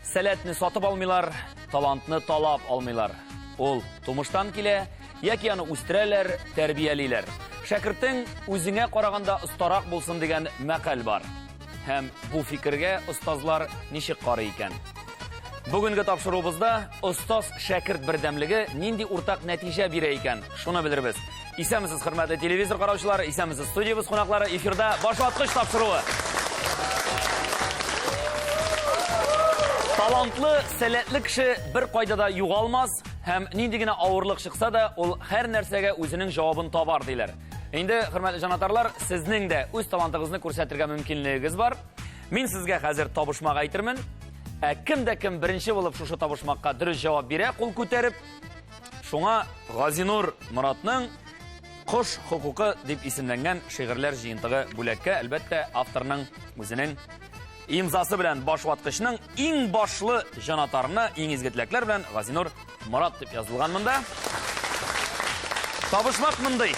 Сәләтне сатып алмыйлар, талантны талап алмыйлар. Ул тумыштан килә, яки аны үстерәләр, тәрбиялиләр. Шәкертең үзеңә караганда остарак булсын дигән мәкаль бар. Һәм бу фикергә остазлар ничек карый икән? Бүгенге тапшыруыбызда остаз шәкерт бердәмлеге нинди уртак нәтиҗә бирә икән? Шуны белербез. Исәнмесез, хөрмәтле телевизор караучылары, исәнмесез, студиябез кунаклары, эфирда башлаткыч тапшыруы. Талантлы, сәләтле кеше бер кайда да югалмас, һәм нинди генә авырлык чыкса да, ул һәр нәрсәгә үзенең җавабын табар, диләр. Инде, хөрмәтле җанатарлар, сезнең дә үз талантыгызны күрсәтергә мөмкинлегегез бар. Мин сезгә хәзер табышмак әйтермен. Ә кем дә кем беренче булып шушы табышмакка дөрес җавап бирә, кул күтәреп, шуңа Газинур Моратның Кош хокукы дип исемләнгән шигырьләр җыентыгы бүләккә, әлбәттә, авторның үзенең Имзасы белән башваткычның иң башлы җанатарына иң изге теләкләр белән Газинур Морат дип язылган монда. Табышмак мондый.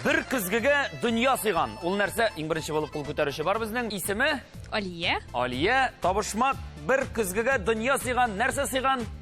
Бер көзгегә дөнья сыйган. Ул нәрсә? Иң беренче булып кул күтәрүче бар безнең. Исеме? Алия. Алия, табышмак бер көзгегә дөнья сыйган. Нәрсә сыйган?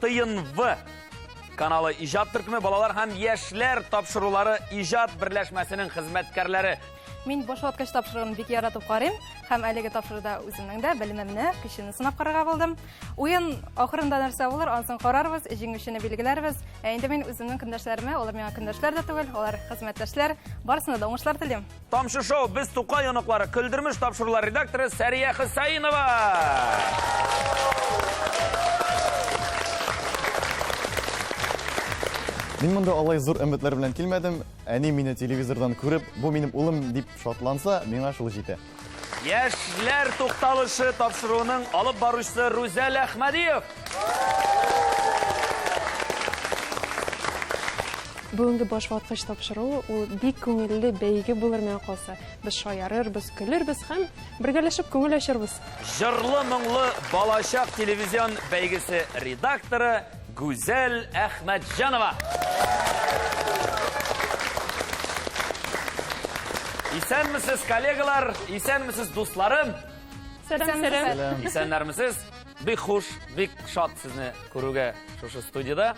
Тыйын В каналы иҗат төркеме балалар һәм яшьләр тапшырулары иҗат берләшмәсенең хезмәткәрләре. Мин баш ваткач тапшыруын бик яратып карыйм һәм әлеге тапшыруда үземнең дә белемемне, көчемне сынап карарга булдым. Уен ахырында нәрсә булыр, ансын карарбыз, җиңүчене билгеләрбез. Ә инде мин үземнең көндәшләремә, алар миңа көндәшләр дә түгел, алар хезмәттәшләр, барысына да уңышлар телим. Тамчы шоу, без Тукай оныклары, Көлдермеш тапшырулар редакторы Сәрия Хөсәенова. Мин монда алай зур өметләр белән килмәдем. Әни мине телевизордан күреп, бу минем улым дип шатланса, миңа шул җитә. Яшьләр тукталышы тапшыруының алып баручысы Рүзәл Әхмәдиев. Бүгенге баш ваткыч тапшыруы ул бик күңелле бәйге булыр миңа калса. Без шаярырбыз, көлербез һәм бергәләшеп күңел ачарбыз. Җырлы моңлы балачак телевизион бәйгесе редакторы Гүзәл Әхмәтҗанова. Исәнмесез, коллегалар, исәнмесез, дусларым. Сәлам, сәлам. Исәннәрмесез. Бик хуш, бик шат сезне күрүгә шушы студияда.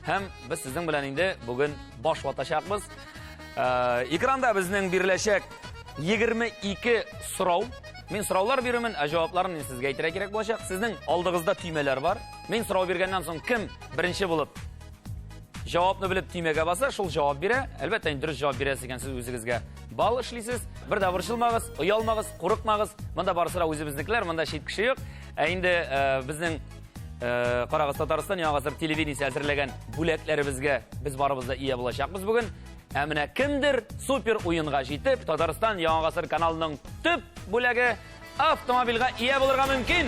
Һәм без сезнең белән инде бүген баш ватачакбыз. Э, экранда безнең биреләчәк 22 сорау. Мин сораулар бирәмен, ә җавапларын мин сезгә әйтергә кирәк булачак. Сезнең алдыгызда төймәләр бар. Мин сорау биргәннән соң кем беренче булып Җавапны белеп төймәгә баса, шул җавап бирә. Әлбәттә, инде дөрес җавап бирәсез икән сез үзегезгә. Бал эшлисез. Бер дә борчылмагыз, оялмагыз, курыкмагыз. Монда барысы да үзебезнекеләр, монда чит кеше юк. Ә инде э, безнең э, Карагыз Татарстан яңа гасыр телевидениесе әзерләгән бүләкләребезгә без барыбыз да ия булачакбыз бүген. Ә менә кемдер супер уенга җитеп, Татарстан яңа гасыр каналының төп бүләге Автомобильгә ия булырга мөмкин!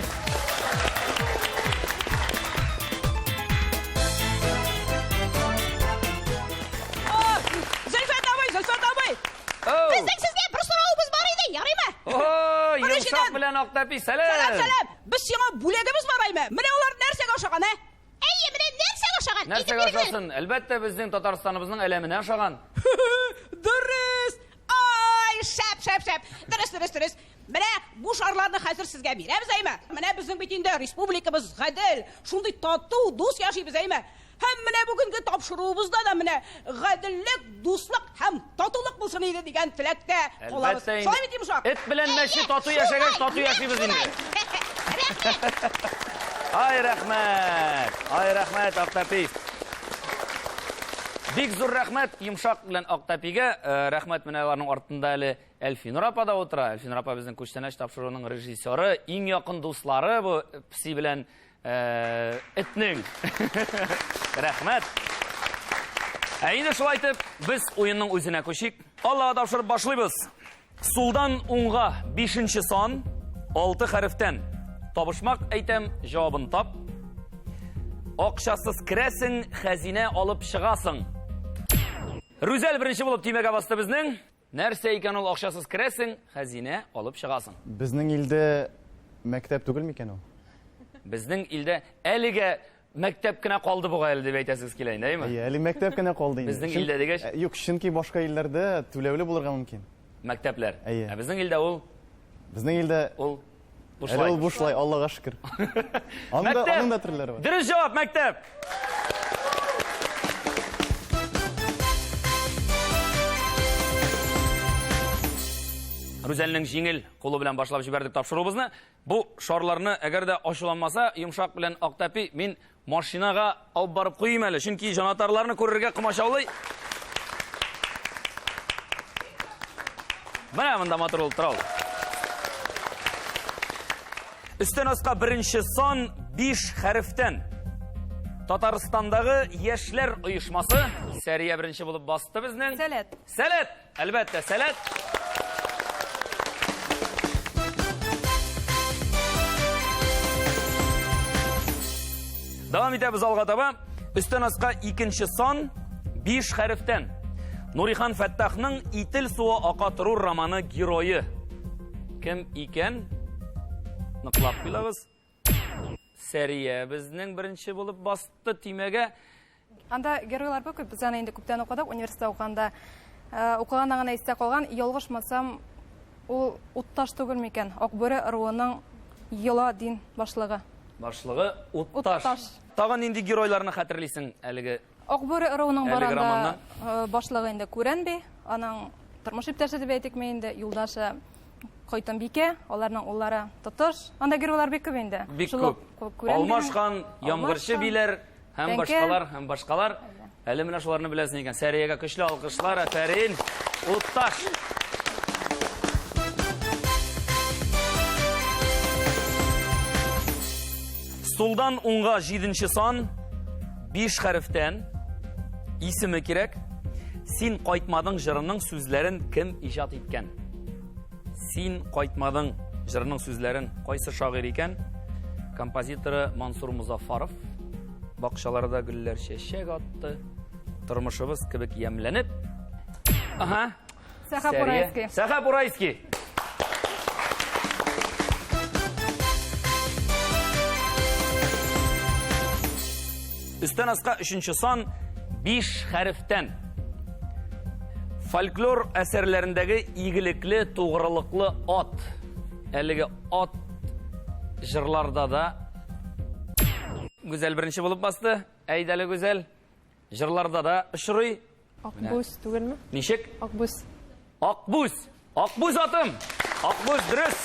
Зөлфәт абый, Зөлфәт абый! Безнең сезгә бер соравыбыз бар иде, ярыймы? О, йомшак белән Актәпи, сәлам! Сәлам, сәлам! Без сиңа бүләгебез бар аймы? Менә алар нәрсәгә ошаган, ә? Әйе, менә нәрсәгә ошаган? Нәрсәгә ошасын? Әлбәттә, безнең Татарстаныбызның әләменә ошаган. Дөрес! Ай, шәп, шәп, шәп. Дөрес, дөрес, дөрес. Менә бу шарларны хәзер сезгә бирәбез, әйме? Менә безнең бит инде республикабыз гадел, шундый тату, дус яшибез, әйме? Һәм менә бүгенге тапшыруыбызда да менә гаделлек, дуслык һәм татулык булсын иде дигән теләктә калабыз. Әлбәттә инде. Шулай бит, Йомшак? Эт белән мәче тату яшәгәч, тату яшибез инде. Рәхмәт! Ай, рәхмәт! Ай, рәхмәт, автопист! Бик зур рәхмәт Йомшак белән Актәпигә. Э, рәхмәт менә аларның артында әле Әлфинур апа да утыра. Әлфинур апа безнең күчтәнәч тапшыруының режиссеры, иң якын дуслары бу пси белән э, этнең. Рәхмәт. Ә инде шулай итеп, без уенның үзенә күчик. Аллага тапшырып башлыйбыз. Сулдан уңга бишенче сан, алты хәрефтән. Табышмак әйтәм, җавабын тап. Акчасыз керәсең, хәзинә алып чыгасың. Рүзәл беренче булып тимәгә басты безнең. Нәрсә икән ул акчасыз керәсең, хәзинә алып чыгасың. Безнең илдә мәктәп түгел микән ул? Безнең илдә әлегә Мәктәп кенә калды бугай әле дип әйтәсегез килә инде, әйеме? Әйе, әле мәктәп кенә калды инде. Безнең илдә дигәч? Э, юк, чөнки башка илләрдә түләүле булырга мөмкин. Мәктәпләр. Әйе. Ә безнең илдә ул Безнең илдә ул бушлай. Ул бушлай, Аллага шөкер. Анда аның да төрләре бар. Дөрес җавап, мәктәп. Рүзәлнең җиңел кулы белән башлап җибәрдек тапшыруыбызны. Бу шарларны әгәр дә ачуланмаса, йомшак белән ак тәпи, мин машинага алып барып куйыйм әле, чөнки җанатарларны күрергә комачаулый. Менә монда матур булып тора ул. Өстән аска беренче сан 5 хәрефтән. Татарстандагы яшьләр оешмасы Сәрия беренче булып басты безнең. Сәләт. Сәләт. Әлбәттә, сәләт! Дәвам итәбез алга таба. Өстән аска икенче сан 5 хәрефтән. Нурихан Фәттахның Итил суы ака торур романы герое. Кем икән? Ныклап куйлагыз. Сәрия безнең беренче булып басты тимәгә. Анда геройлар бик күп, без аны инде күптән укыдык, университетта укыганда. Э, укыганнан гына истә калган, ялгышмасам, ул утташ түгел микән? Акбүре ыруының Йола дин башлыгы. Башлыгы утташ. Утташ. Тагын нинди геройларны хәтерлисең әлеге Акбүре ыруының баранда башлыгы инде Күрән би, аның тормыш иптәше дип әйтикме инде, юлдашы Койтымбикә, аларның уллары Тотыш. Анда геройлар бик күп инде. Бик күп. Алмаш хан, Ямгырчы биләр һәм башкалар, һәм башкалар. Әле менә шуларны беләсең икән. Сәриягә көчле алкышлар, афәрин. Утташ. Сулдан уңга җиденче сан, биш хәрефтән, исеме кирәк. Син кайтмадың җырының сүзләрен кем иҗат иткән? Син кайтмадың җырының сүзләрен кайсы шагыйрь икән? Композиторы Мансур Музафаров. Бакчаларда гөлләр чәчәк атты. Тормышыбыз кебек ямләнеп. Ага, Сәхәп Урайский. Сәхәп Урайский. Үстән аска өченче сан биш хәрефтән. Фольклор әсәрләрендәге игелекле, тугрылыклы ат. Әлеге ат жырларда да Гүзәл беренче булып басты. Әйдәле Гүзәл. Җырларда да очрый. Акбүз түгелме? Ничек? Акбүз. Акбүз. Акбүз атым. Акбүз дөрес.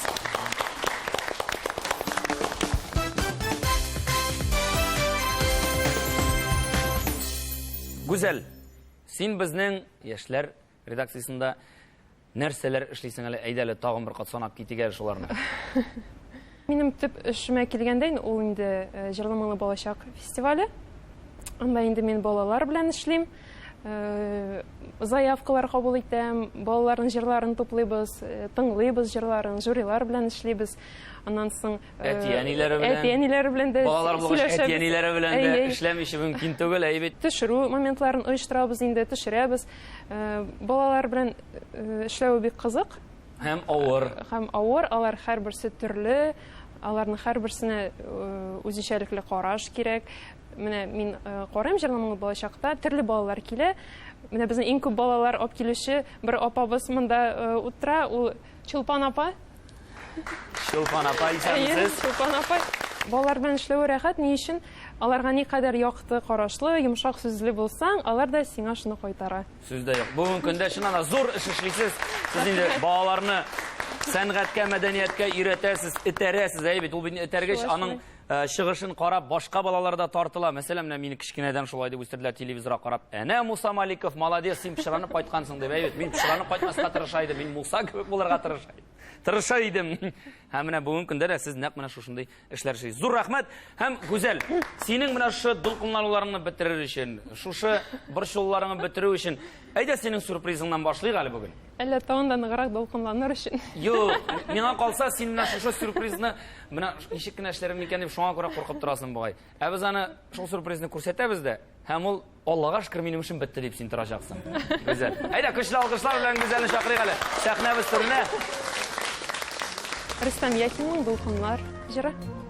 Гүзәл, син безнең яшьләр Редакциясендә нәрсәләр эшлисең әле? Әйдә әле тагын бер кат санап китик әле шуларны. Минем төп эшемә килгәндә, ул инде э, җырлы моңлы балачак фестивале. Анда инде мин балалар белән эшлим. Э, заявкалар кабул итәм, балаларның җырларын туплыйбыз, э, тыңлыйбыз җырларын, жюрилар белән эшлибез. Аннан соң әти-әниләре белән, әти-әниләре белән дә балалар булгач әти-әниләре белән дә эшләмичә мөмкин түгел, әйбит. Төшерү моментларын оештырабыз инде, төшерәбез. Балалар белән эшләве бик кызык. Һәм авыр. Һәм авыр, алар һәрберсе төрле, аларның һәрберсенә үзенчәлекле караш кирәк. Менә мин карыйм җырламаңны балачакта, төрле балалар килә. Менә безнең иң күп балалар алып килүче бер апабыз монда утыра, ул Чулпан апа. Чулпан апа исәнмесез. Чулпан апа. Балалар белән эшләве рәхәт, ни өчен? Аларга никадәр якты карашлы, йомшак сүзле булсаң, алар да сиңа шуны кайтара. Сүз дә юк. Бүгенге көндә чыннан да зур эш эшлисез. Сез инде балаларны сәнгатькә, мәдәнияткә өйрәтәсез, этәрәсез, әйе бит, ул бит этәргеч, аның Э, чыгышын карап, башка балалар да тартыла. Мәсәлән, менә мине кечкенәдән шулай дип үстерделәр телевизорга карап. Әнә Муса Маликов, молодец, син пычранып кайткансың дип. Әйбәт, мин пычранып кайтмаска тырыша идем, мин Муса кебек булырга тырыша идем. Тырыша идем. Һәм менә бүгенге көндә дә сез нәкъ менә шушындый эшләр эшлисез. Зур рәхмәт һәм Гүзәл, синең менә шушы дулкынлануларыңны бетерер өчен, шушы борчуларыңны бетерү өчен, әйдә синең сюрпризыңнан башлыйк әле бүген. Әллә тагын да ныграк дулкынланыр өчен? Юк, миңа калса, син менә шушы сюрпризны менә ничек кенә эшләрем микән дип шуңа күрә куркып торасың бугай. Ә без аны шул сюрпризны күрсәтәбез дә, һәм ул Аллага шөкер, минем эшем бетте дип син торачаксың. Гүзәл. Әйдә, көчле алкышлар белән Гүзәлне чакырыйк әле. Сәхнәбез түренә. Рөстәм Яхинның Дулкыннар җыры.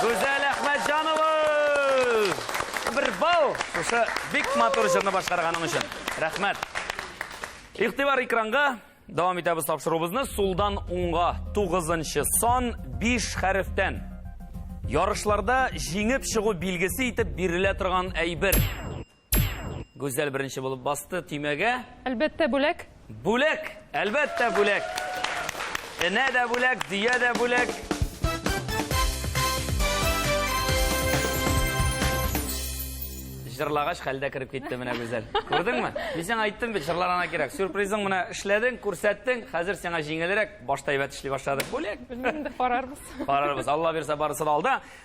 Гүзәл Әхмәтҗанова! Бер бал! Шушы бик матур җырны башкарганың өчен. Рәхмәт. Игътибар экранга. Дәвам итәбез тапшыруыбызны. Сулдан уңга 9 сан 5 хәрефтән. Ярышларда җиңеп чыгу билгесе итеп бирелә торган әйбер. Гүзәл беренче булып басты төймәгә. Әлбәттә, бүләк. Бүләк! Әлбәттә, бүләк! Энә дә бүләк, дөя дә бүләк. Җырлагач, хәлдә кереп китте менә Гүзәл. Күрдеңме? Мин сиңа айттым бит, җырлар ана кирәк. Сюрпризың менә эшләдең, күрсәттең, хәзер сиңа җиңелрәк, башта әйбәт эшли башлады. Бүләк! Белмим инде, карарбыз. Карарбыз. Алла бирса, барысы да алда.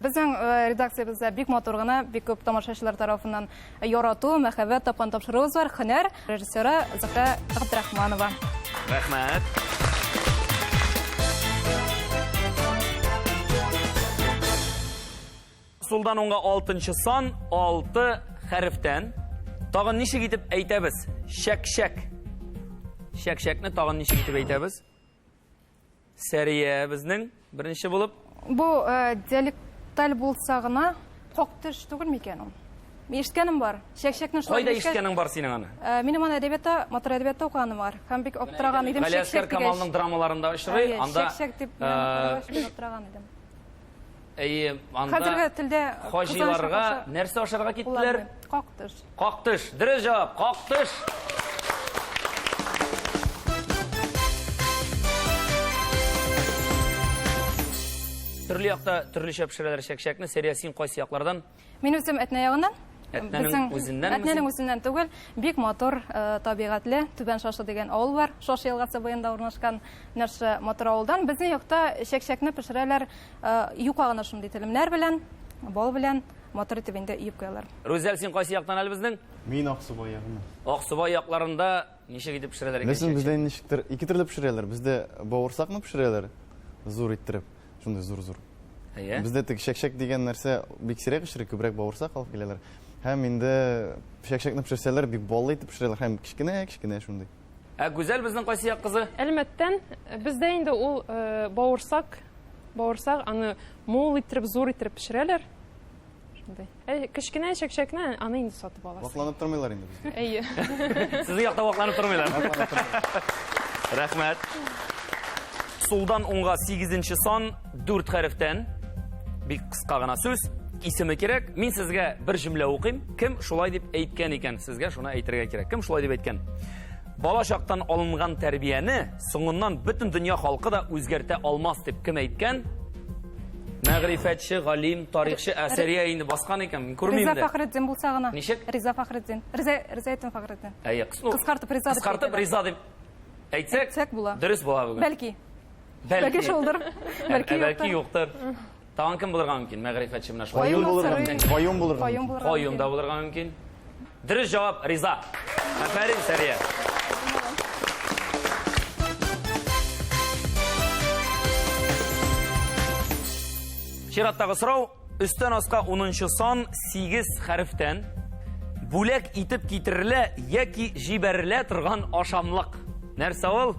Безнең редакциябездә бик матур гына, бик күп тамашачылар тарафыннан ярату, мәхәббәт тапкан тапшыруыбыз бар. Һөнәр режиссеры Зөһрә Габдрахманова. Рәхмәт. Сулдан уңга алтынчы сан, алты хәрефтән. Тагын ничек итеп әйтәбез? Чәк-чәк. Чәк-чәкне тагын ничек итеп әйтәбез? Сәрия безнең беренче булып. Бу э, диалекталь булса гына хак төш түгел микән ул? Ишеткәнем бар. Чәкчәкне шулай Кайда ишеткәнең бар синең аны? Э, минем аны әдәбиятта, матур әдәбиятта укыганым бар. Һәм бик аптыраган идем. Галиәсгар Камалның драмаларында очрый. Анда чәкчәк дип э, аптыраган идем. Әйе, анда... Хәзерге телдә... Хаҗиларга нәрсә ашарга киттеләр? Кактыш. Кактыш. Дөрес җавап. Кактыш. Төрле якта төрлечә пешерәләр чәкчәкне. Сәрия, син кайсы яклардан? Мин үзем Әтнә ягыннан. Әтнәнең үзеннән? Әтнәнең үзеннән түгел, бик матур э, табигатьле Түбән Шашы дигән авыл бар. Шашы елгасы буенда урнашкан нәрсә матур авылдан. Безнең якта чәкчәкне пешерәләр э, юка гына шундый телемнәр белән, бал белән матур итеп инде өеп куялар. Рүзәл, син кайсы яктан әле безнең? Мин Аксубай ягыннан. Аксубай якларында ничек итеп пешерәләр икән? Безнең бездә ничектер ике төрле пешерәләр. Бездә бавырсакны пешерәләр зур иттереп. шундый зур зур иә бізде тек шәкшәк деген нәрсә бик сирәк пешерә күбрәк бауырсак алып киләләр һәм инде шәкшәкне пешерсәләр бик баллы итеп пешерәләр һәм кечкенә кечкенә шундый ә гүзәл безнең кайсы як кызы әлмәттән бездә инде ул бауырсак бауырсак аны мул иттереп зур иттереп пешерәләр Шундый. Ә кечкенә чәкчәкне аны инде сатып аласың. Вакланып тормыйлар инде бездә. Әйе. Сезнең якта вакланып тормыйлар. Рәхмәт. Сулдан уңга 8 сан 4 хәрефтән бик кыска гына сүз исеме кирәк. Мин сезгә бер җөмлә укыйм. Кем шулай дип әйткән икән? Сезгә шуны әйтергә кирәк. Кем шулай дип әйткән? Бала чактан алынган тәрбияне соңыннан бөтен дөнья халкы да үзгәртә алмас дип кем әйткән? Мәгърифәтче, галим, тарихчы Әсәрия инде баскан икән, мин күрмим Риза Фәхретдин булса гына. Ничек? Риза Фәхретдин. Риза Ризаетдин Фәхретдин. Әйе, ну, кыскартып Риза дип. Кыскартып Риза дип әйтсәк, була. Дөрес була бүген. Бәлки. Бәлки шулдыр. Бәлки юктыр. Тагын кем булырга мөмкин? Мәгърифәтче менә шулай. Каюм булырга мөмкин. Каюм булырга мөмкин. Каюм да булырга мөмкин. Дөрес җавап Риза. Афәрин, Сәрия. Чираттагы сорау. Өстән аска 10 сан 8 хәрефтән бүләк итеп китерелә яки җибәрелә торган ашамлык. Нәрсә ул?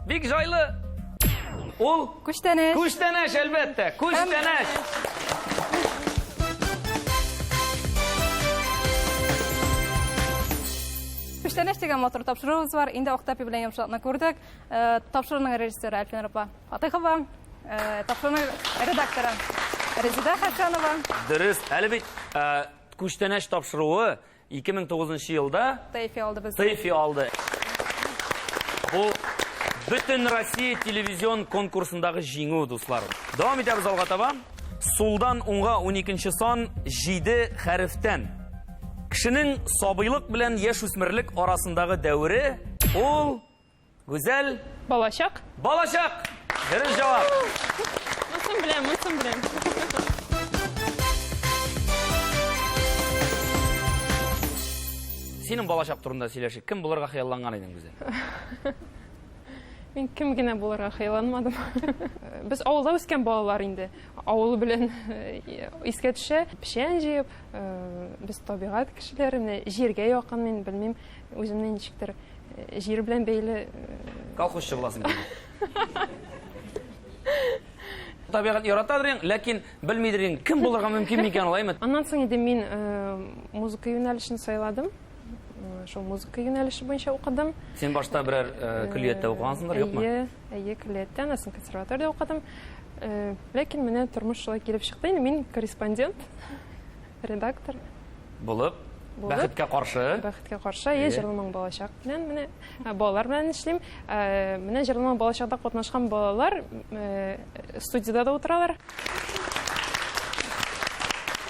Бик җайлы. Ул Күчтәнәч. Күчтәнәч, әлбәттә. Күчтәнәч. Күчтәнәч дигән матур тапшыруыбыз бар. Инде Актапи белән йомшаклыкны күрдек. Э, Тапшыруның режиссеры Әлфинар апа Фатыйхова, э, тапшыруның редакторы Резеда Хәкәнова. Дөрес. Әле бит э, күчтәнәч тапшыруы 2009 елда Тейфи алды без. Тейфи алды. Бу бөтен Россия телевизион конкурсындагы җиңү, дуслар. Дәвам итәбез алга таба. Сулдан уңга 12 сан 7 хәрефтән. Кешенең сабыйлык белән яшүсмерлек арасындагы дәвере ул Гүзәл. Балачак. Балачак! Дөрес җавап. Монысын беләм, монысын беләм. Синең балачак турында сөйләшик. Кем булырга хыялланган идең үзең? Мин кем генә булырга хыялланмадым. Без авылда үскән балалар инде. Авыл белән э, искә төшә. Печән җыеп, э, без табигать кешеләре, менә җиргә якын мин, белмим, үземне ничектер Җир белән бәйле. Колхозчы буласың килде. Табигать яратадыр ең, ләкин белмидер ең, кем булырга мөмкин микән алаймы? Аннан соң инде мин музыка юнәлешен сайладым. Шул музыка юнәлеше буенча укыдым. Син башта берәр көллияттә укыгансыңдыр, юкмы? Әйе, әйе, көллияттә, аннан соң консерваториядә укыдым. Ләкин менә тормыш шулай килеп чыкты. Мин корреспондент. Редактор. Булып. Булып. Бәхеткә каршы. Бәхеткә каршы. Е, җырламаң балачак белән менә балалар белән эшлим. Менә җырламаң балачакта катнашкан балалар студиядә дә утыралар.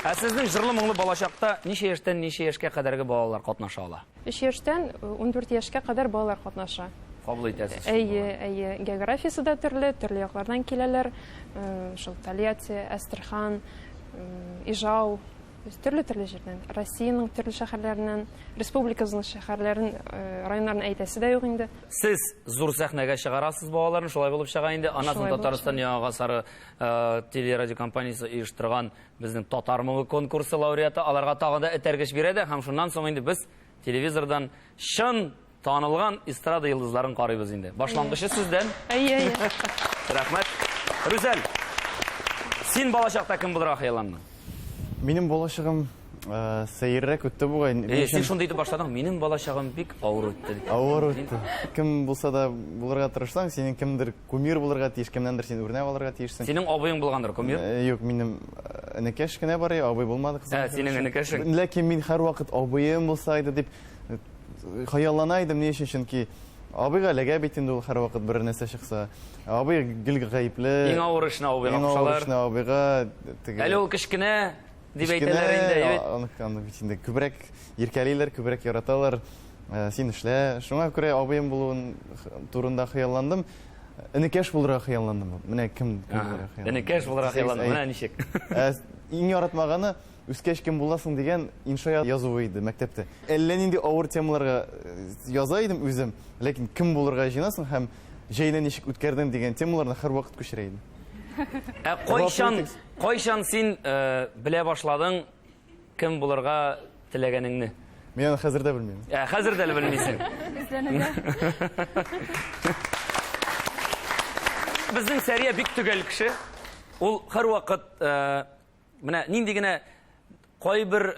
Ә сезнең җырлы моңлы балачакта ничә яшьтән ничә яшькә кадәрге балалар катнаша ала? Өч яшьтән ундүрт яшькә кадәр балалар катнаша. Кабул итәсез? Әйе, әйе. Географиясе дә төрле, төрле яклардан киләләр. Шул Тольятти, Әстерхан, Ижау, төрле-төрле җирдән. Россиянең төрле шәһәрләреннән, республикабызның шәһәрләрен, районнарын әйтәсе дә юк инде. Сез зур сәхнәгә чыгарасыз балаларны, шулай булып чыга инде. Аннан соң Татарстан Яңа гасыры телерадиокомпаниясе оештырган Безнең Татар моңы конкурсы лауреаты аларга тагы да этәргеч бирә дә, һәм шуннан соң инде без телевизордан чын танылган эстрада йолдызларын карыйбыз инде. Башлангычы сездән. Әйе, әйе. Рәхмәт. Рүзәл, син балачакта кем булырга хыялландың? Минем балачагым э, сәеррәк үтте бугай. Э, син шундый итеп башладың, минем балачагым бик авыр үтте. Авыр үтте. Кем булса да булырга тырышсаң, синең кемдер Кумир булырга тиеш, кемнәндер син үрнәк алырга тиешсең. Синең абыең булгандыр кумир? Э, юк, минем э, энекәш кенә бар, абый булмады кызым. Ә, синең энекәшең. Ләкин мин һәрвакыт абыем булса иде дип э, хыяллана идем, ни өчен? Чөнки Абыйга эләгә бит инде ул һәрвакыт бер нәрсә чыкса. Абый гел гаепле. Иң авыр эшне абыйга кушалар. Иң авыр эшне абыйга. Әле ул кечкенә, Дип әйтәләр инде, әйе бит? Анык, анык бит инде. Күбрәк иркәлиләр, күбрәк яраталар. Э, син эшлә. Шуңа күрә абыем булуын турында хыялландым. Энекәш булырга хыялландым. Менә кем булырга хыялландым. Энекәш булырга хыялландым. Менә ничек. Э, иң яратмаганы үскәч кем буласың дигән инша язуы иде мәктәптә. Әллә нинди авыр темаларга э, яза идем үзем, ләкин кем булырга җыенасың һәм җәйне ничек үткәрдең дигән темаларны һәрвакыт күчерә идем. Ә кайчан Кайчан син э, белә башладың кем булырга теләгәнеңне? Мин аны хәзер дә белмим. Ә, хәзер дә белмисең. Безнең Сәрия бик төгәл кеше. Ул һәрвакыт э, менә нинди генә Кайбер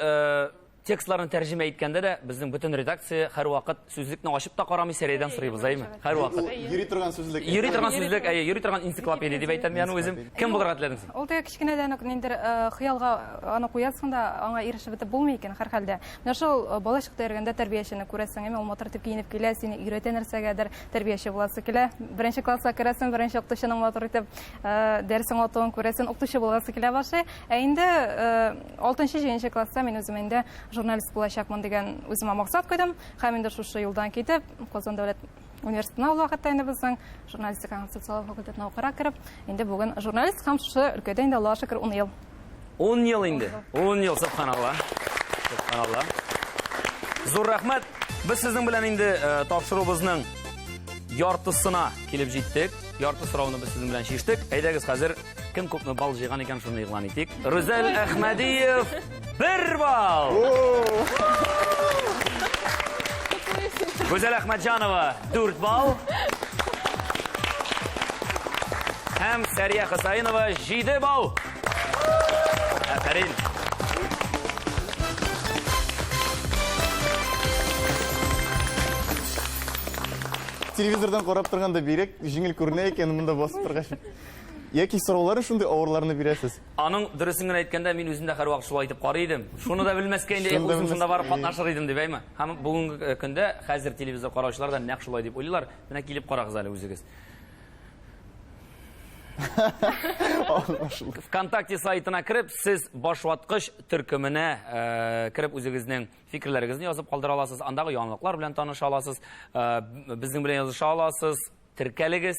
текстларны тәрҗемә иткәндә дә безнең бөтен редакция һәрвакыт сүзлекне ачып та карамый, Сәрәйдән сорыйбыз, әйме? Һәрвакыт. Йөри торган сүзлек. Йөри торган сүзлек, әйе, йөри торган энциклопедия дип әйтәм мин үзем. Кем булырга теләдең син? Ул теге кечкенәдән үк нинди хыялга аны куясың да, аңа ирешеп бетеп булмый икән, һәрхәлдә. Менә шул бала чакта йөргәндә тәрбиячене күрәсең, әйме, ул матур итеп киенеп килә, сине өйрәтә нәрсәгәдер, тәрбияче буласы килә. Беренче класска керәсең, беренче укытучының матур итеп дәресен укытуын күрәсең, укытучы буласы килә башлый. Ә инде алтынчы җиденче класста мин үзем инде журналист булачакмын дигән үземә максат куйдым һәм инде шушы юлдан китеп казан дәүләт университетына ул вакытта инде безнең журналистика һәм социаль факультетына укырга кереп инде бүген журналист һәм шушы өлкәдә инде аллага шөкер ун ел ун ел инде ун ел субханалла субханалла зур рәхмәт без сезнең белән инде тапшыруыбызның яртысына килеп җиттек ярты сорауны без сезнең белән чиштек әйдәгез хәзер Кем күпме бал җыйган икән, шуны игълан итик. Рүзәл Әхмәдиев бер бал. Гүзәл Әхмәтҗанова дүрт бал. Һәм Сәрия Хосаинова җиде бал. Афәрин. Телевизордан карап торганда бирек, җиңел күренә икән, монда басып торгач. Яки сораулары шундый авырларны бирәсез? Аның дөресен генә әйткәндә, мин үзем дә һәрвакыт шулай итеп карый идем. Шуны да белмәскә инде, эх, үзем шунда барып катнашыр идем дип, әйме? Һәм бүгенге э, көндә хәзер телевизор караучылар да нәкъ шулай дип уйлыйлар. Менә килеп карагыз әле үзегез. ВКонтакте сайтына кереп, сез башваткыч төркеменә э, кереп үзегезнең фикерләрегезне язып калдыра аласыз. Андагы яңалыклар белән таныша аласыз. Э, безнең белән языша аласыз. Теркәлегез.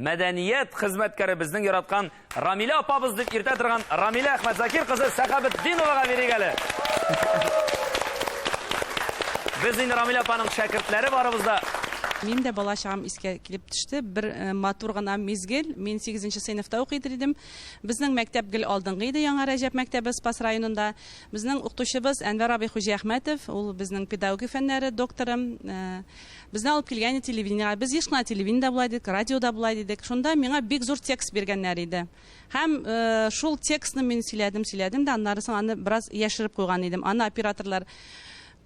Мәдәният хезмәткәре безнең яраткан Рамилә апабыз дип иртә торган Рамилә Әхмәтзакир кызы Сәхәбетдиновага бирик әле. Без инде Рамилә апаның шәкертләре барыбыз да. Мин дә бала чагым искә килеп төште. Бер э, матур гына мизгел. Мин 8 сыйныфта укый идем. Безнең мәктәп гел алдынгы иде Яңа Рәҗәп мәктәбе Спас районында. Безнең укытучыбыз Әнвәр абый Хуҗиәхмәтов, ул безнең педагогия фәннәре докторы. Э, Безне алып килгән иде телевидениегә. Без еш кына телевидениедә була идек, радиода була идек. Шунда миңа бик зур текст биргәннәр иде. Һәм э, шул текстны мин сөйләдем, сөйләдем дә, аннары соң аны бераз яшереп куйган идем. Аны операторлар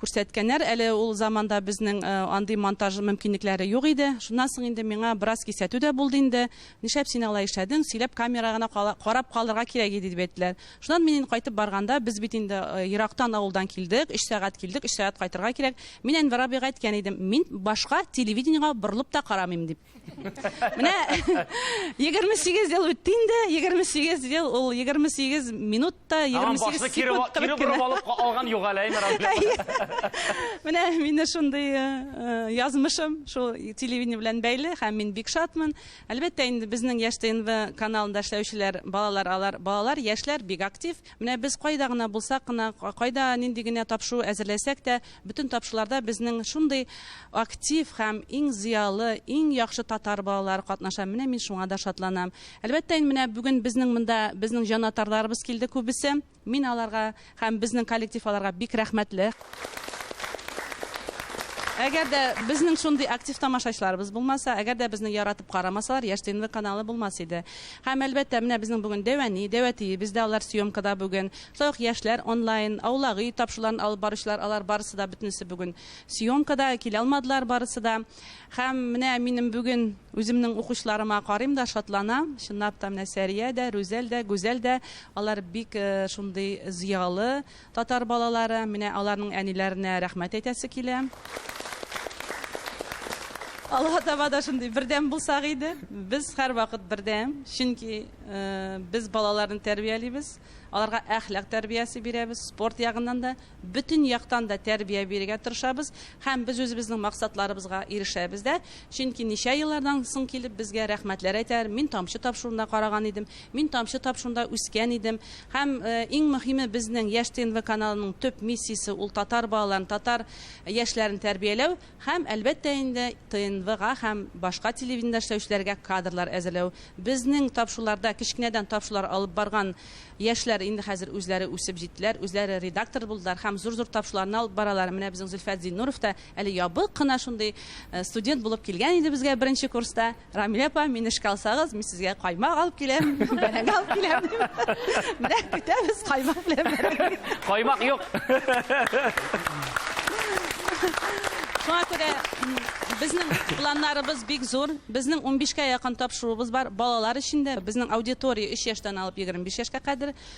күрсәткәннәр. Әле ул заманда безнең э, андый монтаж мөмкинлекләре юк иде. Шуннан соң инде миңа бераз кисәтү дә булды инде. Нишләп син алай эшләдең? Сөйләп камера гына кала- карап калырга кирәк иде дип әйттеләр. Шуннан мин кайтып барганда, без бит инде э, ерактан авылдан килдек, өч сәгать килдек, өч сәгать кайтырга кирәк. Мин Әнвәр абыйга әйткән идем, мин башка телевидениега борылып та карамыйм дип. Менә 28 ел үтте инде, 28 ел ул 28 минут та 28 секунд кебек кенә. алып алган юк әле Менә мине шундый э, э, язмышым шул телевидение белән бәйле һәм мин бик шатмын. Әлбәттә инде безнең Яшь ТНВ каналында эшләүчеләр балалар алар. Балалар, яшьләр бик актив. Менә без кайда гына булсак кына, кайда нинди генә тапшыру әзерләсәк тә, бөтен тапшыруларда безнең шундый актив һәм иң зыялы, иң яхшы татар балалары катнаша. Менә мин шуңа да шатланам. Әлбәттә инде менә бүген безнең монда безнең җанатарларыбыз килде күбесе. Мин аларга һәм безнең коллектив аларга бик рәхмәтле. Әгәр дә безнең шундый актив тамашачыларыбыз булмаса, әгәр дә безне яратып карамасалар, Яшь ТНВ каналы булмас иде. Һәм әлбәттә, менә безнең бүген Дәвәни, Дәвәтиебез бездә алар съемкада бүген. Шулай ук яшьләр онлайн, Аулаги тапшыруларын алып баручылар, алар барысы да бөтенесе бүген съемкада, килә алмадылар барысы да. Һәм менә минем бүген үземнең укучыларыма карыйм да шатланам. Чынлап та менә Сәрия дә, Рүзәл дә, Гүзәл дә, алар бик э, шундый зыялы татар балалары. Менә аларның әниләренә рәхмәт әйтәсе килә. Алга таба да шундый бердәм булсак иде. Без һәрвакыт бердәм, чөнки э, без балаларны тәрбиялибез. Аларга әхлак тәрбиясе бирәбез, спорт ягыннан да, бөтен яктан да тәрбия бирергә тырышабыз һәм без үзебезнең максатларыбызга ирешәбез дә, чөнки ничә еллардан соң килеп безгә рәхмәтләр әйтәләр, мин тамчы тапшыруында караган идем, мин тамчы тапшыруында үскән идем. Һәм иң мөһиме безнең Яшь ТНВ каналының төп миссиясе ул татар балаларын, татар яшьләрен тәрбияләү. Һәм, әлбәттә инде, ТНВга һәм башка телевидениедә эшләүчеләргә кадрлар әзерләү. Безнең тапшыруларда кечкенәдән тапшырулар алып барган яшьләр инде хәзер үзләре үсеп җиттеләр, үзләре редактор булдылар һәм зур-зур тапшыруларны алып баралар. Менә безнең Зөлфәт Зиннуров та әле ябык кына шундый студент булып килгән иде безгә беренче курста. Рамилә апа, мине эшкә алсагыз, мин сезгә каймак алып киләм, бәрәңге алып киләм. Менә көтәбез каймак белән бәрәңге. Каймак юк. Шуңа күрә безнең планнарыбыз бик зур. Безнең 15 кә якын тапшыруыбыз бар. Балалар өчен дә безнең аудитория 3 яшьтән алып 25 яшькә кадәр.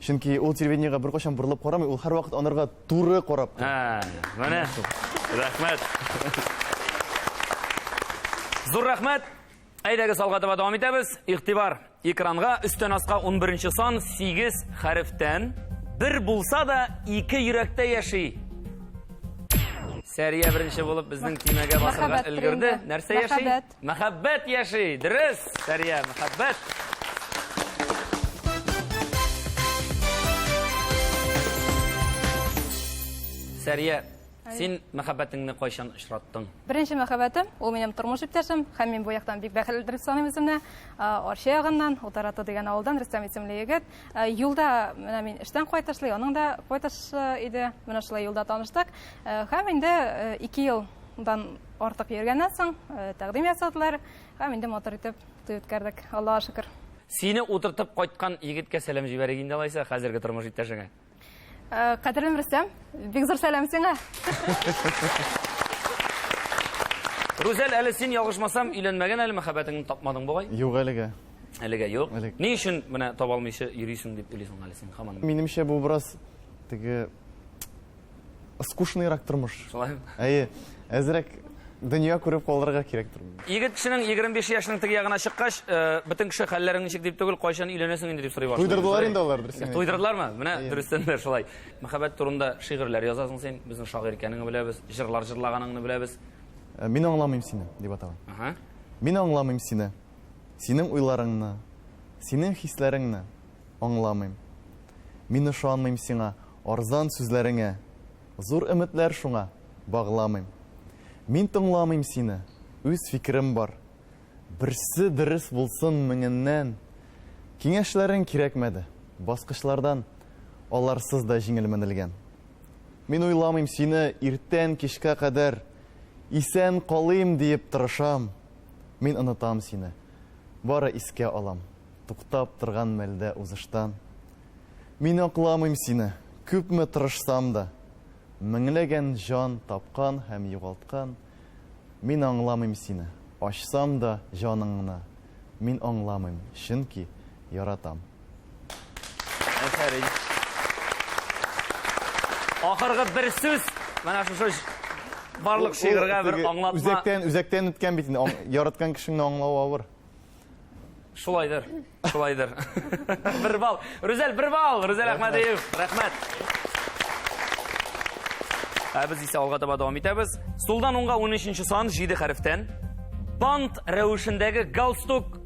Чөнки ул телевидениегә беркайчан борылып карамый, ул һәрвакыт анарга туры карап тора. Ә, менә. Рәхмәт. Зур рәхмәт. Әйдәгез алга таба дәвам итәбез. Игътибар. Экранга өстән аска 11 сан 8 хәрефтән бер булса да ике йөрәктә яши. Сәрия беренче булып безнең тимәгә басырга өлгерде. Нәрсә яши? Мәхәббәт яши, дөрес, Сәрия, мәхәббәт. Сәрия, син мәхәббәтеңне кайчан очраттың? Беренче мәхәббәтем, ул минем тормыш иптәшем, һәм мин бу яктан бик бәхетле дип саныйм үземне. Арча ягыннан, Утараты дигән авылдан Рөстәм исемле егет. Юлда менә мин эштән кайтышлый, аның да кайтышы иде. Менә шулай юлда таныштык. Һәм инде 2 елдан Артык йөргәннән соң тәкъдим ясадылар һәм инде матур итеп туй үткәрдек, Аллага шөкер. Сине утыртып кайткан егеткә сәлам җибәрик инде алайса хәзерге тормыш иптәшеңә. Э, кадерлем Рөстәм, бик зур сәлам сиңа. Рүзәл, әле син ялгышмасам, өйләнмәгән әле мәхәббәтеңне тапмадың бугай? Юк әлегә. Әлегә юк. Әлек. Ни өчен менә таба алмыйча йөрисең дип уйлыйсың әле син хаман? Минемчә бу бераз теге скучныйрак тормыш. Шулаймы? Әйе, әзрәк дөнья күреп калырга кирәктер. Егет кешенең 25 яшьнең теге ягына чыккач, э, бөтен кеше хәлләрең ничек дип түгел, кайчан өйләнәсең инде дип сорый башлый. Туйдырдылар инде алар дөресен. Туйдырдылармы? Менә дөрестән дә шулай. Мәхәббәт турында шигырьләр язасың син, безнең шагыйрь икәнеңне беләбез, җырлар җырлаганыңны беләбез. Э, мин аңламыйм сине, дип атала. Ага. Мин аңламыйм сине. Синең уйларыңны, синең хисләреңне аңламыйм. Мин ышанмыйм сиңа. Арзан сүзләреңә зур өметләр шуңа багламыйм. Мин тыңламыйм сине, үз фикерем бар. Берсе дөрес булсын меңеннән. Киңәшләрең кирәкмәде, баскычлардан аларсыз да җиңел менелгән. Мин уйламыйм сине иртән кичкә кадәр исән калыйм диеп тырышам. Мин онытам сине, бары искә алам, туктап торган мәлдә узыштан. Мин акламыйм сине, күпме тырышсам да, Меңләгән җан тапкан һәм югалткан, Мин аңламыйм сине, ачсам да җаныңны, Мин аңламыйм, чөнки яратам. Әфәрин! Ахыргы бер сүз, менә шушы барлык шигырьгә бер аңлатма. Үзәктән, үзәктән үткән бит инде, яраткан кешеңне аңлау авыр. Шулайдыр, шулайдыр. Бер бал. Рүзәл, бер бал. Рүзәл Әхмәдиев, рәхмәт. Ә без исә алга таба дәвам итәбез. Сулдан уңга 13-нче сан 7 хәрефтән. Бант рәвешендәге галстук.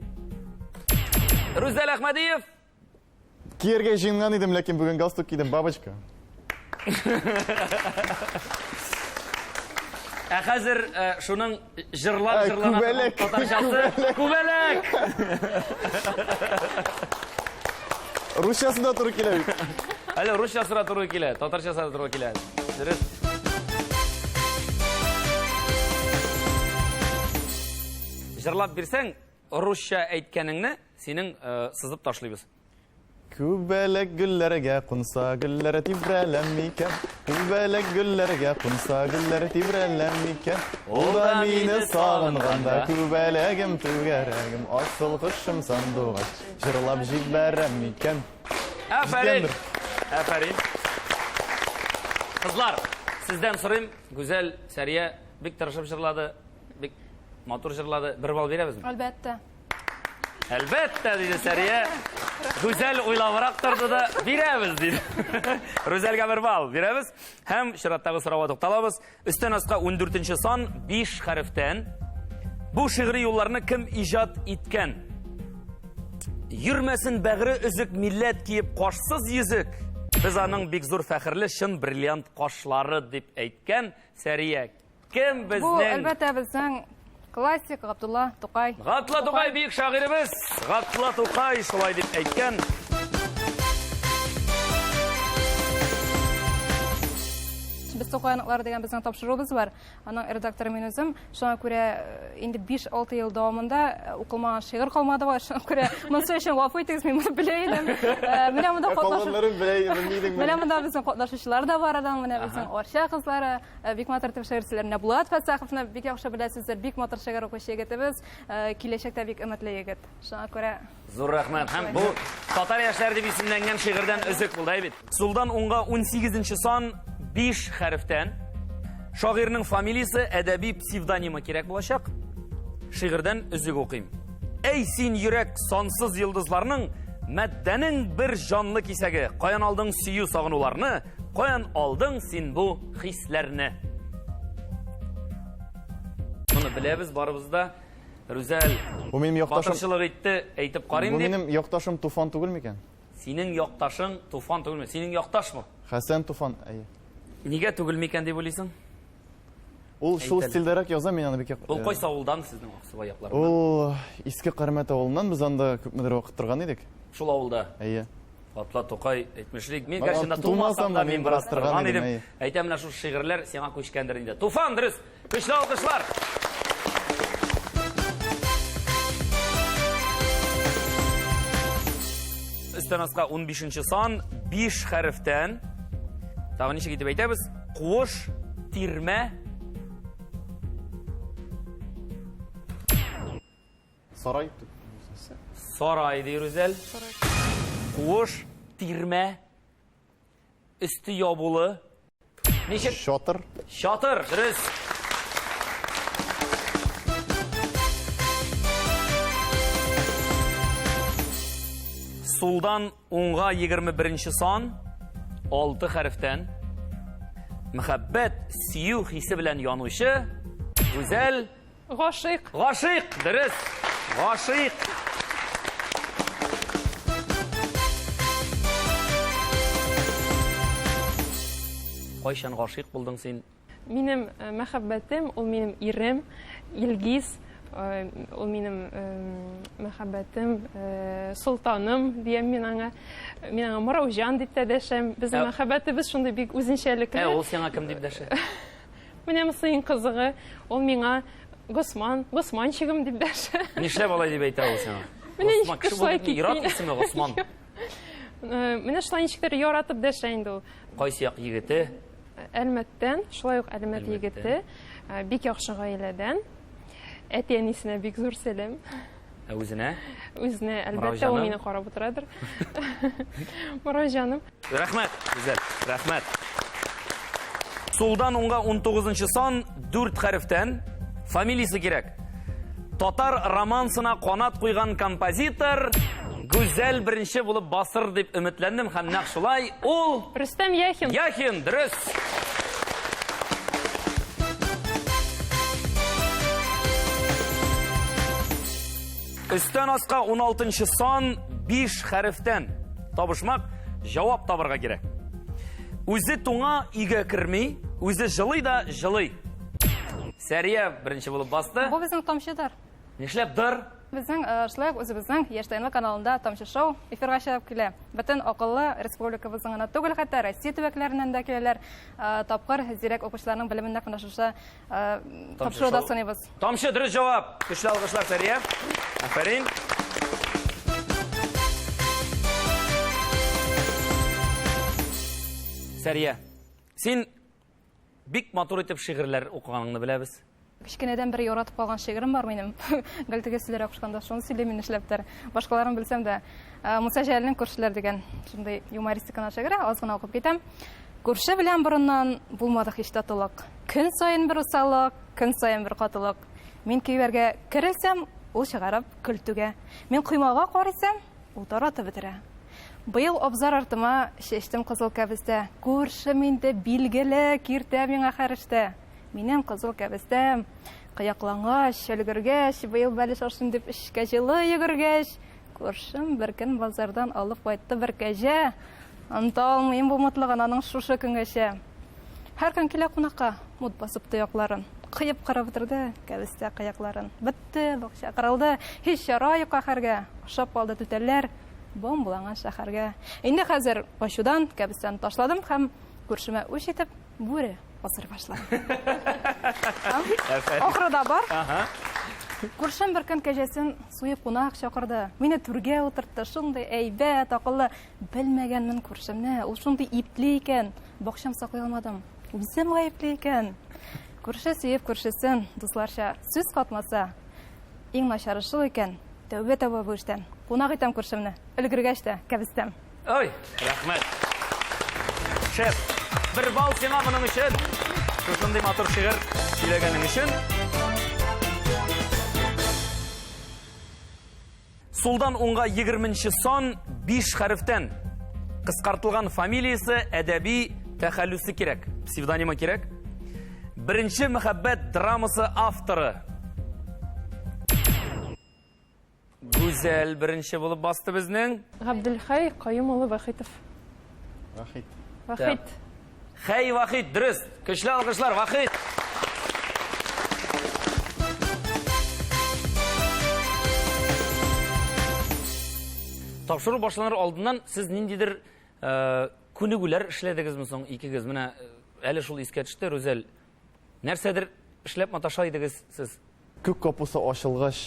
Рүзәл Әхмәдиев, Кияргә җыенган идем, ләкин бүген галстук кидем, бабочка. Ә хәзер э, шуның җырлап Ә, җырлана күбәләк, татарчасы күбәләк. Русчасы да туры килә бит. Әле русчасы да туры килә, татарчасы да туры килә. Дөрес. Җырлап бирсәң, Русча әйткәнеңне синең э, сызып ташлыйбыз. Күбәләк гөлләргә кунса, гөлләр тибрәләм микән? Күбәләк гөлләргә кунса, гөлләр тибрәләм микән? Ул да мине сагынганда, күбәләгем түгәрәгем, асыл кошым сандугач, җырлап җибәрәм микән? Афәрин! Афәрин! Кызлар, сездән сорыйм, Гүзәл, Сәрия бик тырышып җырлады. Бик матур җырлады. Бер бал бирәбезме? Әлбәттә. Әлбәттә, диде Сәрия. Гүзәл уйлавырак торды да, бирәбез, диде. Рүзәлгә бер бал бирәбез. Һәм чираттагы сорауга тукталабыз. Өстән аска 14 сан 5 хәрефтән. Бу шигъри юлларны кем иҗат иткән? Йөрмәсен бәгыре өзек милләт киеп кашсыз йөзек. Без аның бик зур фәхерле чын бриллиант кашлары дип әйткән Сәрия Кем безнең? Бу, әлбәттә, безнең классик Габдулла Тукай. Габдулла Тукай бик шагыйребез. Габдулла Тукай шулай дип әйткән. Без Тукай аныклары дигән безнең тапшыруыбыз бар. Аның редакторы мин үзем. Шуңа күрә э, инде 5-6 ел дәвамында э, укылмаган шигырь калмады бар. Шуңа күрә монысы өчен гафу итегез, мин моны белә идем. Э, менә монда катнашучылар. Менә монда безнең катнашучылар да бар адан, менә безнең Арча кызлары, Э, бик матур итеп шигырьчеләр менә булат фәсәховны бик яхшы беләсездер бик матур шигырь укучы егетебез э, киләчәктә бик өметле егет шуңа күрә зур рәхмәт һәм бу татар яшьләре дип исемләнгән шигырьдән өзек булды бит сулдан уңга 18 нче сан 5 хәрефтән шагыйрьнең фамилиясе әдәби псевдонимы кирәк булачак шигырьдән өзек укыйм әй син йөрәк сансыз йолдызларның мәддәнең бер җанлы кисәге каян алдың сөю сагынуларны Каян алдың син бу хисләрне? Моны беләбез барыбыз да. Рүзәл. Бу минем якташым. Батырчылык итте, әйтеп карыйм дип. Бу минем якташым Туфан түгел микән? Синең якташың Туфан түгелме? Синең якташ бу. Хәсән Туфан, әйе. Нигә түгел микән дип уйлыйсың? Ул шул стильдәрәк яза, мин аны бик як... Ул э, кайсы авылдан сезнең Аксубай якларыннан? Ул Иске Кармәт авылыннан, без анда күпмедер вакыт торган идек. Шул авылда? Әйе. Атла Тукай әйтмешлек. Мин гәрчә тумасам да мин бераз торган идем. Әйтә менә шул шигырьләр сиңа күчкәндер инде. Туфан дөрес. Көчле алкышлар. Өстән аска 15 сан 5 хәрефтән. Тагын ничек итеп әйтәбез? Куыш, тирмә, Сарай. Сарай, ди Рүзәл. Куыш, тирмә, өсте ябулы. Ничек? Чатыр. Чатыр, дөрес. Сулдан уңга 21 нче сан, 6 хәрефтән. Мәхәббәт, сөю хисе белән янучы, гүзәл, Гашыйк. Гашыйк, дөрес. Гашыйк. Кайчан гашыйк булдың син? Минем э, мәхәббәтем, ул минем ирем, Илгиз. Э, ул минем э, мәхәббәтем, солтаным диям мин аңа. Мин аңа Мыраужан дип тә дәшәм. Безнең мәхәббәтебез шундый бик үзенчәлекле. Ә ул сиңа кем дип дәшә? Менә монысы иң кызыгы. Ул миңа Госман, Госманчигым дип дәшә. Нишләп алай дип әйтә ул сиңа? Менә ничек тә шулай китми. Ярат исеме Госман. Э, менә шулай ничек тә яратып дәшә инде ул. Кайсы як егете? Әлмәттән, шулай ук Әлмәт егете. Э, бик яхшы гаиләдән. Әти-әнисенә бик зур сәлам. Ә үзенә? Үзенә, әлбәттә, ул мине карап утырадыр. Морай җаным. Рәхмәт, Гүзәл, рәхмәт. Сулдан уңга 19 сан, 4 хәрефтән, фамилиясе кирәк. Татар романсына канат куйган композитор... Гүзәл беренче булып басыр дип өметләндем һәм нәкъ шулай ул Рөстәм Яхин. Яхин, дөрес. Өстән аска 16 сан 5 хәрефтән табышмак җавап табырга кирәк. Үзе туңа өйгә керми, үзе җылый да җылый. Сәрия беренче булып басты. Бу безнең тамчыдар. Нишләп дыр? Безнең шулай ук үзебезнең Яшь Тайны каналында Тамчы шоу эфирга чыгып килә. Бөтен акыллы республикабызның гына түгел, хәтта Россия төбәкләреннән дә киләләр. Тапкыр зирәк укучыларның белеменә кына шушы тапшыруда сыныйбыз. Тамчы дөрес җавап. Көчле алгышлар Сәрия. Афәрин. Сәрия, син Бик матур итеп шигырьләр укыганыңны беләбез. Кечкенәдән бер яратып калган шигырем бар минем. Гел теге сүзләр акышканда шуны сөйлим мин эшләптер. Башкаларын белсәм дә, э, Муса Җәлилнең күршеләр дигән шундый юмористиканы шигыре аз гына укып китәм. Күрше белән борыннан булмадык һич татулык. Көн саен бер усалык, көн саен бер катылык. Мин көйләргә керелсәм, ул чыгарып көлтүгә. Мин коймага карыйсам, Ул таратып бетерә. Быел абзар артыма чәчтем кызыл кәбестә. Күршем инде билгеле, киртә миңа хәрештә. Минем кызыл кәбестәм кыяклангач, өлгергәч, быел бәлеш ашыйм дип эшкә җылы йөгергәч, күршем бер көн базардан алып кайтты бер кәҗә. Оныта алмыйм бу мотлыгын аның шушы көнгәчә. Һәр көн килә кунакка, мут басып тоякларын. Кыеп кырып бетерде кәбестә кыякларын. Бетте бакча, кырылды, һич яра юк каһәргә. Ашап калды түтәлләр, бом буланган шәһәргә. Инде хәзер ачудан кәбестәне ташладым һәм күршемә үч итеп бүре асыр башлады. Ахыры да бар. Күршем бер көн кәҗәсен суеп кунак чакырды. Мине түргә утыртты, шундый әйбәт, акыллы. Белмәгәнмен күрше, менә ул шундый ипле икән, бакчам саклый алмадым. Үзем гаепле икән. Күрше сөеп күршесен, дусларча сүз катмаса, иң начары шул икән. Тәүбә таба бу эштән. Кунак итәм күршемне, өлгергәч тә кәбестәм. Ой, рәхмәт. Шәп. Бер бал сиңа моның өчен. Шушындый матур шигырь сөйләгәнең өчен. Сулдан уңга егерменче сан биш хәрефтән. Кыскартылган фамилиясе, әдәби тәхәллүсе кирәк. Псевдонимы кирәк. Беренче мәхәббәт драмасы авторы. Гүзәл беренче булып басты безнең. Габделхәй Каюм улы Вахитов. Вахит. Вахит. Хәй, Вахит, дөрес. Көчле алгышлар, Вахит. Тапшыру башланыр алдыннан сез ниндидер э, күнегүләр эшләдегезме соң икегез? Менә э, әле шул искә төште, Рүзәл, Нәрсәдер эшләп маташа идегез сез. Күк капусы ачылгач,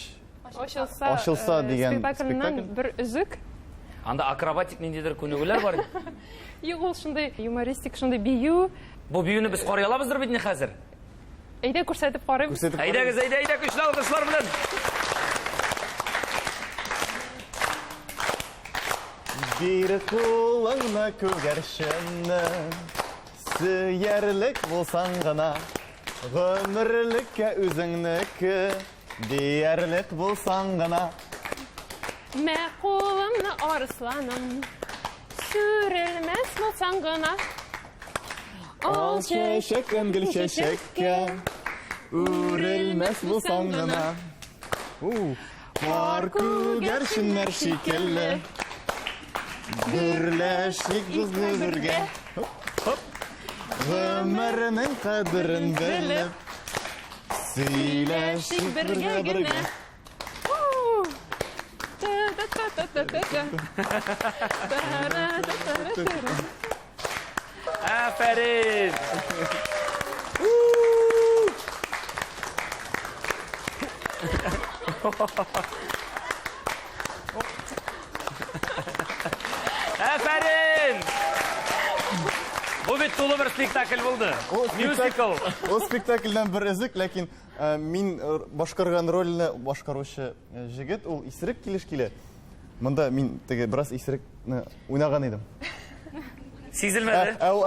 Ачылса, Ачылса э, дигән спектакльнан спектакль. бер өзек. Анда акробатик ниндидер күнегүләр бар. Юк, ул шундый юмористик, шундый бию. Бу биюне без карый алабыздыр бит ни хәзер? Әйдә күрсәтеп карыйм. Күрсәтеп Әйдәгез, әйдә, әйдә, көчле алкышлар белән. Бир кулыңны күгәрченне, Сөярлек булсаң гына Гомерлеккә үзеңнеке Диярлек булсаң гына. Мә кулымны арысланым Сүрелмәс булсаң гына. Ал чәчәк һәм гөл чәчәккә Үрелмәс булсаң гына. Кар күгәрченнәр шикелле Гөрләшик бузлы бергә Гөмернең кадерен белеп Сөйләшик бергә бергә Та-та-та-та-та-та-та. Та-ра-та-та-та-та-та. Афәрин! Афәрин! Бу бит тулы бер спектакль булды. Мюзикл. Ул спектакльдән бер өзек, ләкин э, мин э, башкарган рольне башкаручы э, җегет, ул Исерек килеш килә. Монда мин теге бераз исерекне уйнаган идем. Сизелмәде. Ә ул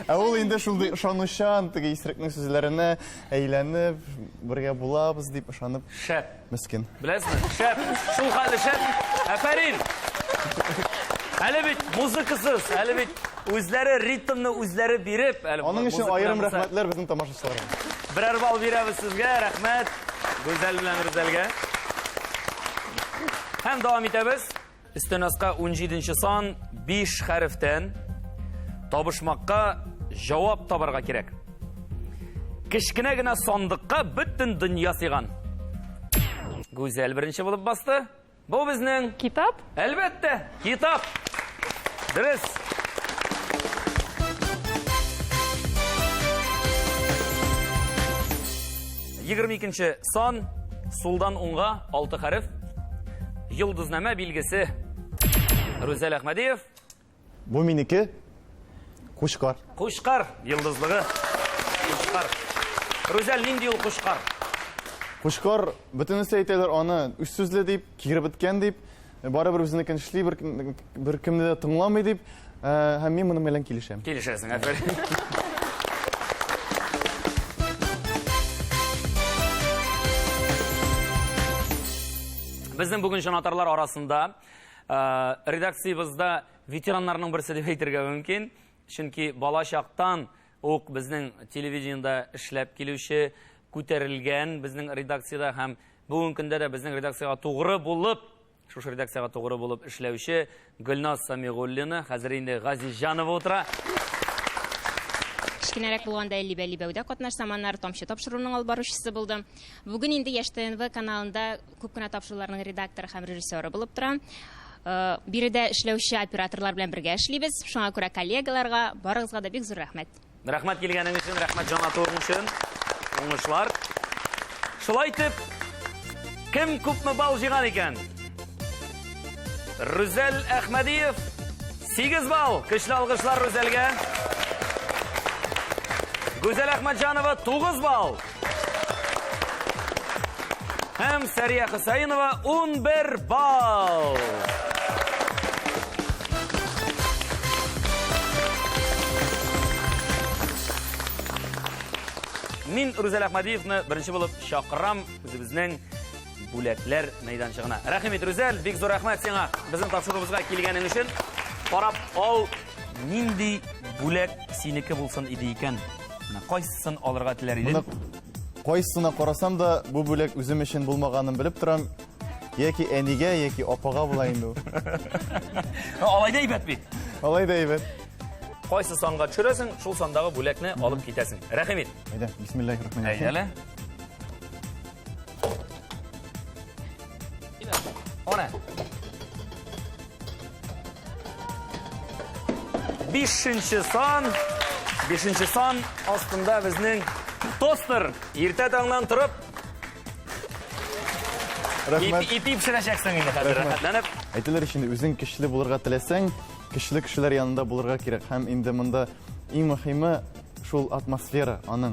ә ул инде шундый ышанучан, теге исерекнең сүзләренә әйләнеп, бергә булабыз дип ышанып. Шәп. Мискин. Беләсезме? Шәп. Шул хәле шәп. Афәрин. Әле бит музыкасыз, әле бит үзләре ритмны үзләре биреп, әле Аның өчен аерым рәхмәтләр безнең тамашачыларга. Берәр балл бирәбез сезгә, рәхмәт. Гүзәл белән Рүзәлгә. Һәм дәвам итәбез. Өстен аска 17 нче сан 5 хәрефтән табышмакка җавап табарга кирәк. Кечкенә генә сандыкка бөтен дөнья сыйган. Гүзәл беренче булып басты. Бу безнең. Китап? Әлбәттә, китап. Дөрес. Егерме икенче сан, сулдан уңга, алты хәреф. Йолдызнамә билгесе. Рүзәл Әхмәдиев. Бу минеке. Кушкар. Кушкар йылдызлыгы. Кушкар. Рузәл, нинди ул кушкар? Кушкар бөтенесе әйтәләр аны үз сүзле дип, кире беткән дип, барыбер үзенекен эшли, бер, бер кемне дә тыңламый дип, ә, һәм мин моның белән килешәм. Килешәсең, әфәрин. Безнең бүген җанатарлар арасында Редакциябызда ветераннарның берсе дип әйтергә мөмкин. Чөнки бала чактан ук безнең телевидениедә эшләп килүче, күтәрелгән безнең редакциядә һәм бүгенге көндә дә безнең редакциягә тугры булып, шушы редакциягә тугры булып эшләүче Гөлназ Самигуллина, хәзер инде Газизҗанова утыра. Кечкенәрәк булганда Либә-Либәүдә катнашсам, аннары Тамчы тапшыруының алып баручысы булдым. Бүген инде Яшь ТНВ каналында Күп кенә тапшыруларның редакторы һәм режиссеры булып тора. Биредә эшләүче операторлар белән бергә эшлибез. Шуңа күрә коллегаларга, барыгызга да бик зур рәхмәт. Рәхмәт килгәнең өчен, рәхмәт җан атуың өчен. Уңышлар. Шулай итеп, кем күпме балл җыйган икән? Рүзәл Әхмәдиев 8 балл. Көчле алгышлар Рүзәлгә. Гүзәл Әхмәтҗанова 9 балл. Һәм Сәрия Хөсәенова 11 балл. Мин Рүзәл Әхмәдиевны беренче булып чакырам үзебезнең бүләкләр мәйданчыгына. Рәхим ит, Рүзәл, бик зур рәхмәт сиңа безнең тапшыруыбызга килгәнең өчен. Карап ал, нинди бүләк синеке булсын иде икән? Менә кайсысын алырга теләр идең? Моны кайсына карасам да, бу бүләк үзем өчен булмаганын белеп торам. Яки әнигә, яки апага була инде ул. Алай да әйбәт бит. Алай да әйбәт. Кайсы санга төшерәсең, шул сандагы бүләкне алып китәсең. Рәхим ит. Әйдә, бисмиллаһир-рахманир-рахим. Әйдәле. One. 5-нче сан. 5-нче сан астында безнең тостер. Иртә таңнан торып Рәхмәт. Ипи пешерәчәксең инде хәзер. Рәхмәтләнеп. Әйтелер өчен үзең көчле булырга теләсәң, көчле кешеләр янында булырга кирәк. Һәм инде монда иң мөһиме шул атмосфера аның.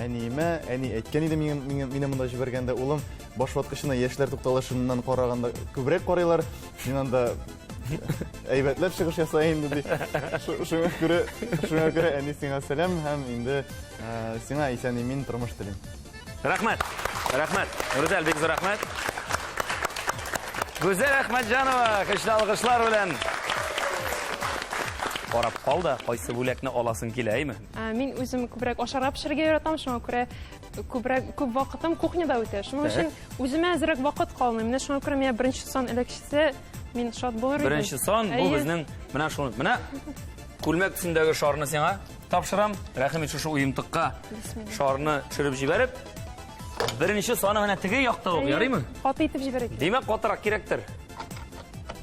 Әниемә, әни әйткән иде миңа, миңа, мине монда җибәргәндә, улым, баш ваткычына яшьләр тукталышыннан караганда күбрәк карыйлар. Син анда әйбәтләп чыгыш яса инде ди. Шуңа күрә, шуңа күрә әни сиңа сәлам һәм инде сиңа исән имин тормыш телим. Рәхмәт. Рәхмәт. Рүзәл бик зур рәхмәт. Гүзәл Әхмәтҗанова, көчле алгышлар белән. Карап кал да, кайсы бүләкне аласың килә, әйме? Ә, Мин үзем күбрәк ашарга пешерергә яратам, шуңа күрә күбрәк күп вакытым кухняда үтә. Шуның өчен үземә әзрәк вакыт калмый. Менә шуңа күрә миңа беренче сан эләкчесе мин шат булыр идем. Беренче сан бу Әйе. безнең менә шул. Менә күлмәк төсендәге шарны сиңа тапшырам. Рәхим ит шушы уемтыкка шарны төшереп җибәреп. Беренче саны менә теге якта ук, ярыймы? Каты итеп җибәрик. Димәк, катырак кирәктер.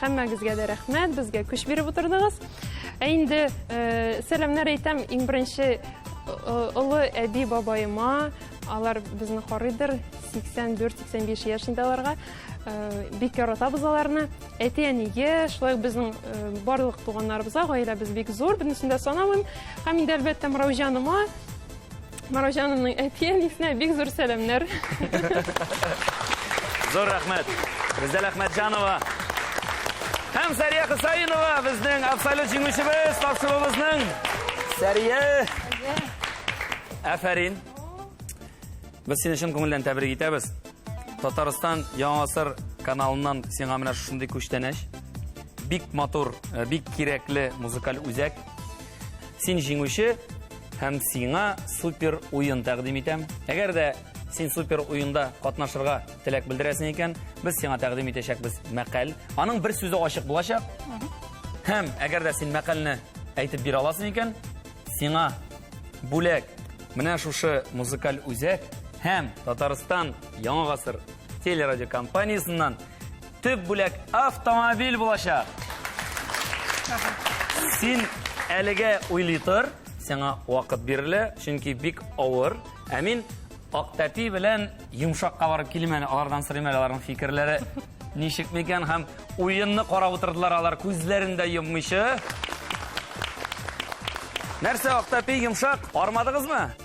Хәммәгезгә дә рәхмәт, безгә көч биреп утырдыгыз. Ә инде э, сәламнәр әйтәм, иң беренче э, олы әби бабаема, алар безне карыйдыр, 84-85 яшендә аларга. Э, бик яратабыз аларны. Әти-әнигә, шулай безнең э, барлык туганнарыбызга, гаиләбез бик зур, бернесен дә санамыйм. Һәм инде әлбәттә Мыраужаныма Мараҗанымның әти-әнисенә бик зур сәламнәр. Зур рәхмәт. Бездәл Әхмәтҗанова һәм Сәрия Хусаинова безнең абсолют җиңүчебез тапшыруыбызның. Сәрия! Афәрин. Без сине чын күңелдән тәбрик итәбез. Татарстан Яңа Асыр каналыннан сиңа менә шушындый күчтәнәч. Бик матур, э, бик кирәкле музыкаль үзәк. Син җиңүче, һәм сиңа супер уен тәкъдим итәм. Әгәр дә син супер уенда катнашырга теләк белдерәсең икән, без сиңа тәкъдим итәчәкбез мәкаль. Аның бер сүзе ачык булачак. Һәм әгәр дә син мәкальне әйтеп бирә аласың икән, сиңа бүләк менә шушы музыкаль үзәк һәм Татарстан Яңа гасыр телерадиокомпаниясеннән Төп бүләк автомобиль булачак. Син әлегә уйлый тор, сиңа вакыт бирелә, чөнки бик авыр. Ә мин Актәпи белән йомшакка барып килим әле, алардан сорыйм әле аларның фикерләре ничек микән һәм уенны карап утырдылар алар күзләрен дә йоммыйча. Нәрсә, Актәпи йомшак, армадыгызмы?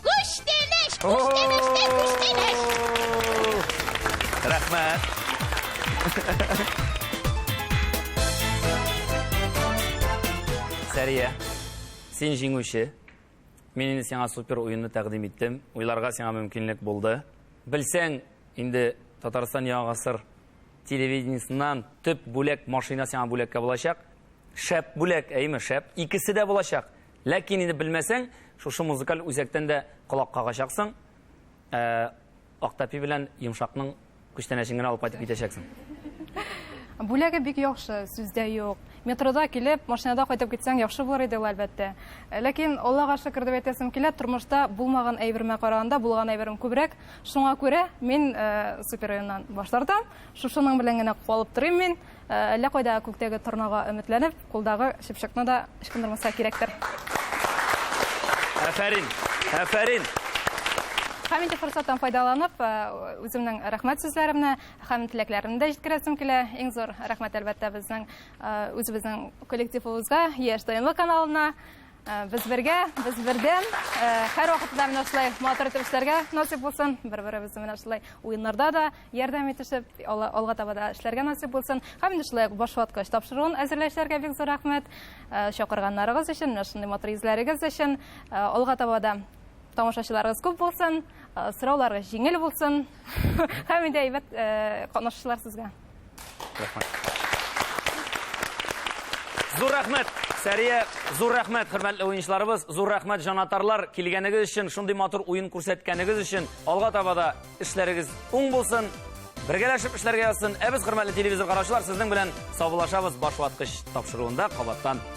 Күш тимеш, күш тимеш, тә күш тимеш. Рәхмәт. Сәрия, син җиңүче. Мин инде сиңа супер уенны тәкъдим иттем. Уйларга сиңа мөмкинлек булды. Белсәң, инде Татарстан Яңа гасыр телевидениесеннән төп бүләк машина сиңа бүләккә булачак. Шәп бүләк, әйеме, шәп. Икесе дә булачак. Ләкин инде белмәсәң, шушы музыкаль үзәктән дә колак кагачаксың. Ә, Актапи белән Йомшакның күчтәнәчен генә алып кайтып китәчәксең. Бүләге бик яхшы, сүздә юк. Метрода килеп, машинада кайтып китсәң яхшы булыр иде ул, әлбәттә. Ләкин, Аллага шөкер дип әйтәсем килә, тормышта булмаган әйбермә караганда булган әйберем күбрәк. Шуңа күрә мин э, супероеннан баш тартам. Шушының белән генә калып торыйм мин. Әллә кайда күктәге торнага өметләнеп, кулдагы чыпчыкны да ычкындырмаска кирәктер. Әфәрин! Әфәрин! Һәм инде форсаттан файдаланып, үземнең рәхмәт сүзләремне һәм теләкләремне дә җиткерәсем килә. Иң зур рәхмәт, әлбәттә, безнең үзебезнең коллективыбызга, Яшь Таймы каналына. Э, без бергә, без бердәм. Э, һәр вакытта менә шулай матур итеп эшләргә насыйп булсын. Бер-беребезне менә шулай уеннарда да ярдәм итешеп, алга таба да эшләргә насыйп булсын. Һәм инде шулай башваткач тапшыруын әзерләүчеләргә бик зур рәхмәт. Э, чакырганнарыгыз өчен, менә шундый матур йөзләрегез өчен алга таба да тамашачыларыгыз күп булсын, сорауларыгыз җиңел булсын. Һәм инде әйбәт катнашучылар сезгә. Зур рәхмәт, Сәрия, зур рәхмәт, хөрмәтле уенчыларыбыз, зур рәхмәт, җанатарлар, килгәнегез өчен, шундый матур уен күрсәткәнегез өчен, алга таба да эшләрегез уң булсын, бергәләшеп эшләргә язсын. Ә без, хөрмәтле телевизор караучылар, сезнең белән саубуллашабыз баш ваткыч тапшыруында кабаттан.